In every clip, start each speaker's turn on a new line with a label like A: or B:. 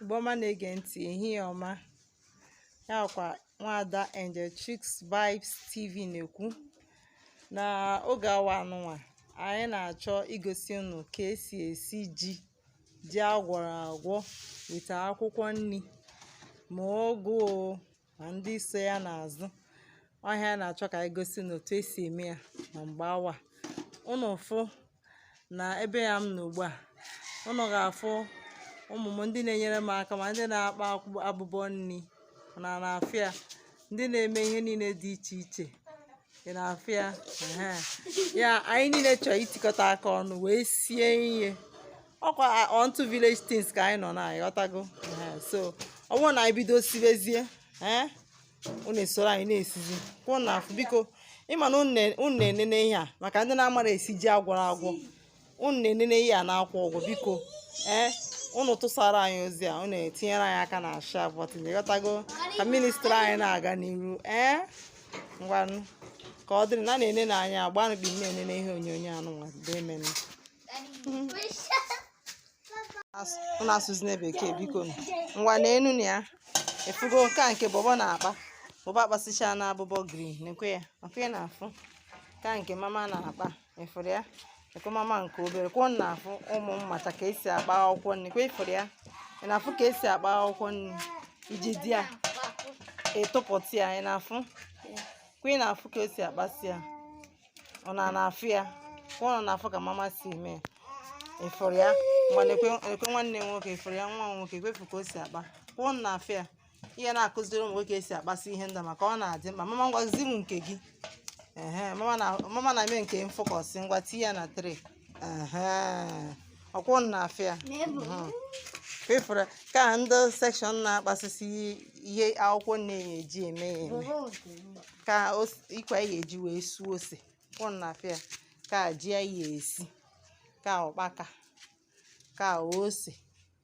A: Igbo ọma na-ege ntị ehihie ọma ya kwa nwaada Angel Chicks Vibes TV na-ekwu na oge awa anụnwa anyị na-achọ igosi unu ka esi esi ji ji agwọrọ agwọ weta akwụkwọ nri ma ụgụ ma ndị so ya n'azụ ọ ihe a na-achọ ka anyị gosi ụnụ otu esi eme ya na mgbe awa ụnụ fụ na ebe a m nọ ugbu a ụnụ ga-afụ ụmụ m ndị na-enyere m aka ma ndị na-akpa abụbọ nri ụnụ na-afụ ya ndị na-eme ihe niile dị iche iche ị na-afụ ya ya anyị niile chọrọ itikọta aka ọnụ wee sie ihe ọkwa onto village things ka anyị nọ unu aghọtago so ọ bụrụ na anyị bido sibezie unu esoro anyị na-esizi kwa unu na-afụ biko ịma na unu na-enene ihe a maka ndị na-amara esi ji agwọrọ agwọ unu na-enene ihe a na-akwụ ụgwọ biko ee eh, unu tụsara anyị ozi a unu etinyere anyị aka na share button ịghọtago ka ministry anyị na-aga n'iru ee eh, ngwanụ ka ọ dịrị na na-ene na anyị agbanụ bi na-enene ihe onyonyo anụnwa demen unu asụzina bekee biko ngwa na enu na ya ị fugo nke a nke bọbọ na-akpa bọbọ akpasịcha na abụbọ green nekwe ya ọkwa ị na-afụ ka nke mama na-akpa ịfụrụ ya nekwe mama nke obere kwa unu na-afụ ụmụ m mata ka esi akpa akwụkwọ nri kwa ịfụrụ ya ị na-afụ ka esi akpa akwụkwọ nri i jide ya ị tụpụta ya ị na-afụ kwa ị na-afụ ka esi akpasị ya unu na-afụ ya kwa unu na-afụ ka mama si eme ya ịfụrụ ya nekwe nwanne nwoke ịfụrụ ya nwa nwoke kwa ị fụ ka o si akpa kwa unu na-afụ ya ị ya na-akụziri ụmụ nwoke esi akpasị ihe ndị a maka ọ na-adị mma mama ngwa zi m nke gị ehe mama na-eme nke m focus ngwa tinye ya na tray ehe ọkwa unu na-afụ ya ị fụrụ ka ndị a section na-akpasịsị ihe akwụkwọ nri eji eme ya eme nke a ikwe ya eji wee suo ose kwa unu na-afụ ya nke a ji a ya esi nke a ụkpaka nke a ose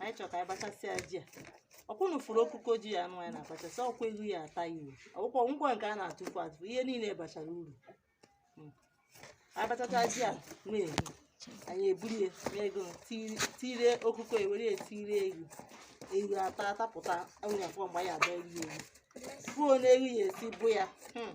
A: anyị chọrọ ka anyị bachasịa ji a ọkwa unu fụrụ okuko ji a anụ anyị na-abachasị ọkwa ihu ya ata ya uru akwụkwọ ngwa nke a na-atụfu atụfu ihe niile bachara uru Mm. anyị bachacha ji a na-ehi anyị eburu ya n'ego tire ọkụkọ ewere ya tire ewu ewu ata atapụta enwere afọ mgbe anyị adọ eri ewu buo n'ehi ya esi bụ ya Hmm.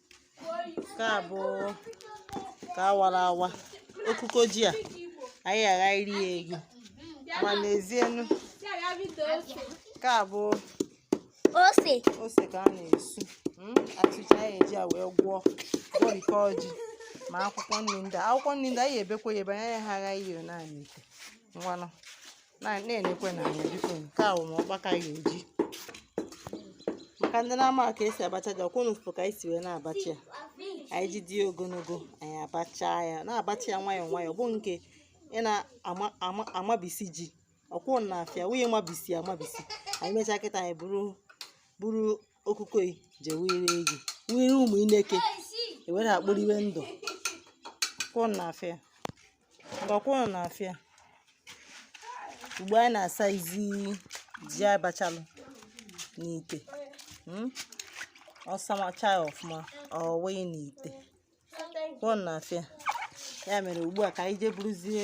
A: nke a bụ ka awara awa okuko ji a anyị agha iri ya egwu ma n'ezienu nke a bụ ose ose ka a na-esu mm, achịcha anyị eji a wee gwọọ gwọrikọ ji ma akwụkwọ nri ndị a. akwụkwọ nri ndị a anyị ebekwa ya ebe anyị agha ihe naanị ite ngwanụ na-enekwenụ anya biko nke a wụ ma ụkpaka ya eji maka ndị na-ama ka esi abacha ji ọkwa ụnụ fụ ka anyị si wee na-abacha ya anyị ji dị ogologo anyị abacha ya na-abacha ya nwayọọ nwayọọ bụ nke ị na-amabisi ji ọkwa ụnụ na-afụ ya wunye mabisi amabisi anyị mechaa kịta anyị buru buru okuko je were egi were ụmụ ineke ewere akporiwe ndụ ka ụnụ na-afụ ya ngwa ọkwa ụnụ na-afụ ya ugbu a anyị na-asazi ji anyị bachalụ n'ite mm? ọ samacha ya ọfụma ọ wee n'ite ụnụ na-afụ ya ya mere ugbu a ka anyị jee buruzie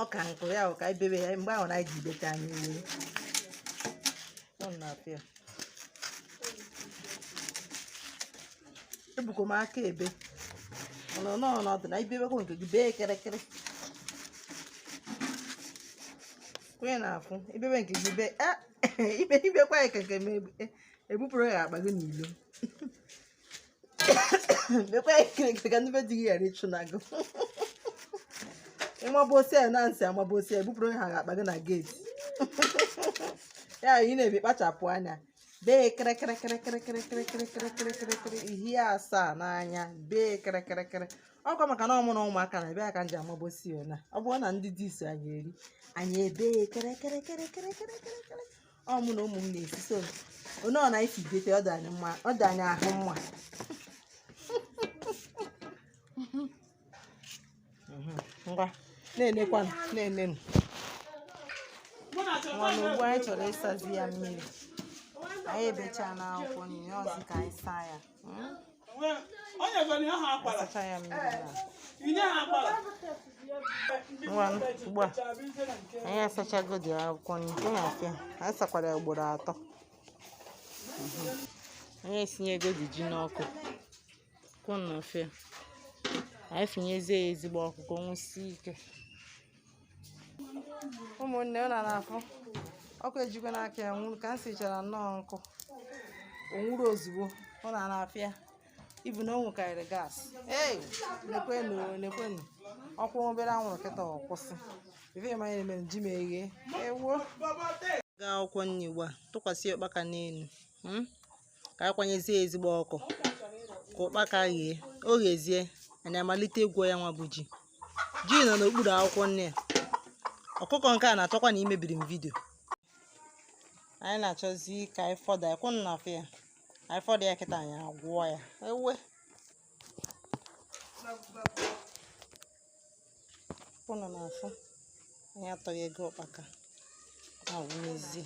A: ọ ka nkụ ya ka anyị bebe ya mgbe ahụ na anyị ji beta anyị wee ụnụ na-afụ ya ebukọ m aka ebe ọnọ n'ọnọdụ na i bebekwa nke gị bee kịrịkịrị onye na-afụ i bebe nke gị bee i bekwa ya keke m ebupụrụ ya akpa gị n'ilo bekwa ya kịrịkịrị ka ndị be di gị ghara ịchụna gị ịmabụ osi ya na-asị amabụ osi ya ebupụrụ ha akpa gị na geeti ya ị na-ebe kpachapụ anya bee kịrịkịrịkịrịkịrịkịrịkịrịkịrịkịrịkịrịkịrị ihie asaa n'anya bee kịrịkịrịkịrị ọkwa maka na ọ mụ na ụmụaka na bịa ka m ji amabosi ya na ọ bụrụ na ndị dis anyị eri anyị ebee kịrịkịrịkịrịkịrịkịrịkịrị ọ mụ na ụmụ m na-esi so onye ọ na-esi bete ọ dị anyị ahụ mma ngwa na-enekwanụ na-enenụ nwanne ugbu a anyị chọrọ ịsazi ya mmiri anyị ebechaana akwụkwọ nri ọzi ka anyị saa ya ugbu a anyị asachagodi akwụkwọ nri nke ị na-afụ ya anyị sakwara ya ugboro atọ anyị esinyegodi ji n'ọkụ ka ụnụ na-afụ ya anyị fụnyezie ya ezigbo ọkụ ka o nwusie ike ụmụnne ụnụ ana-afụ ọkụ ejikwana aka ya nwuru ka m sichara nnọọ nkụ o nwuru ozugbo ụnụ ana-afụ ya ibu na o nwukarịrị gas ee nekwenụ nekwenụ ọ kwụọ obere anwụrụ kịta ọ kwụsị ife ma anyị mere ji m eghe ewuo gaa akwụkwọ nri ugbu a tụkwasị ụkpaka n'elu ka a kwanyezie ya ezigbo ọkụ ka ụkpaka ghee o ghezie anyị amalite ịgwọ ya nwa bụ ji ji nọ n'okpuru akwụkwọ nri a ọkụkọ nke a na-achọkwanụ imebiri m vidio anyị na-achọzi ka anyị fọdụ ya ka ụnụ na-afụ ya anyị fọdụ ya kịta anyị agwọọ ya ewe ụnụ na-afụ anyị atọghego ụkpaka na-awụnyezi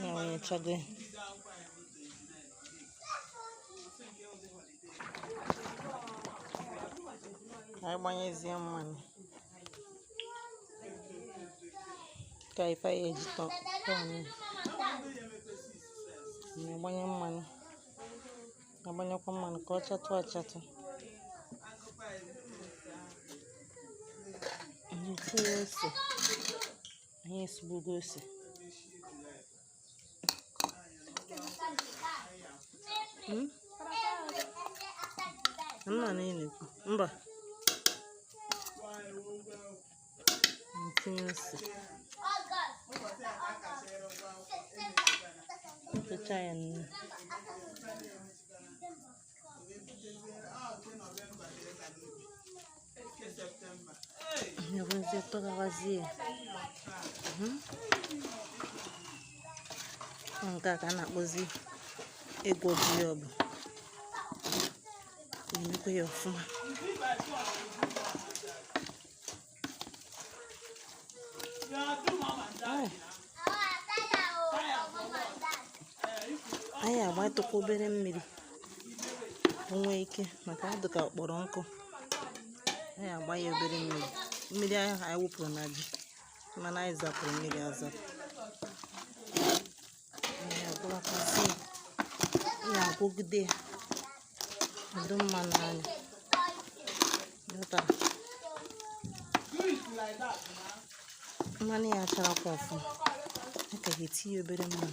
A: awụnyechago anyị gbanyezie mmanụ ka ife ya eji tọ tọọ nụ. na-agbanye mmanụ na-agbanyekwa mmanụ ka ọ chatụ achatụ tinye ose anyị esugbugo ose Hmm? Mmanụ ị na-ekwu. Mba. Anyị tinye ose. Tụcha ya nnu. Anyị ewezie tụghawazie hmm? nke a ka a na-akpọzi ịgwọ ji ya bụ na-emekwa ya ọfụma anyị agbatụkwa obere mmiri o nwee ike maka ọ dị ka ọ kpọrọ nkụ anyị agba ya obere mmiri mmiri ahụ anyị wụpụrụ na ji mana anyị zapụrụ mmiri azapụ anyị agwọwakwazi ya agwọgide ya ọ dị mma n'anya mmanụ ya charakwa ọfụma a ka ga-etinye obere mmanụ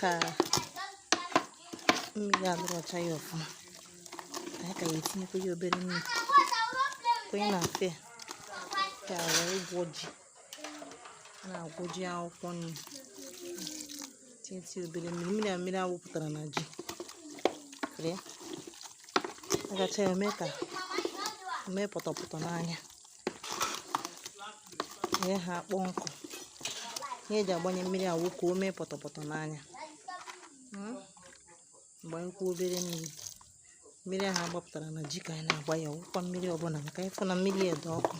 B: ka mmiri adịrị ọcha ya ọfụma anyị ka ya-etinyekwa ya obere mmiri ka ụnụ na-afụ ka wee gwọ ji na-agwọ ji akwụkwọ nri tinye obere mmiri mmiri a mmiri a wụpụtara na ji agacha ya mee ka o mee pọtọpọtọ n'anya wee ha akpọọ nkụ ihe eji agbanye mmiri a wụ ka o mee pọtọpọtọ n'anya gbanyekwa obere mmiri mmiri ahụ agbapụtara na ji ka anyị na-agba ya ọwụkwa mmiri ọbụla maka ị fụ na mmiri a dị ọkụ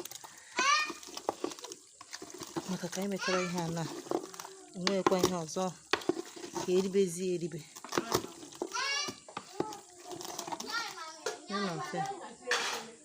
B: maka ka anyị mechara ihe a na enweghịkwa ihe ọzọ ka eribezie eribe ya na mfe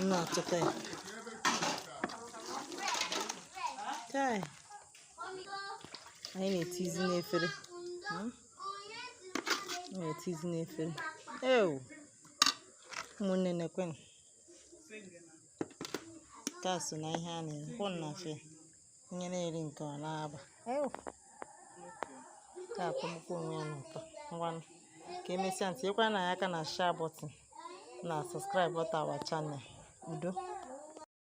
B: Nna tụta ya. Chai. Anyị na-etizi n'efere. Hmm? Anyị na-etizi n'efere. Ewu. Ụmụnne nekwanụ. Nke a so na ihe a na-erekwanụ na afịa. onye na-eri nke ọ na-aba ka atọgbukwa onwe ya n'ụtọ ngwanụ ka emesịa tinyekwara anyị aka na share button na subscribe button our channel udo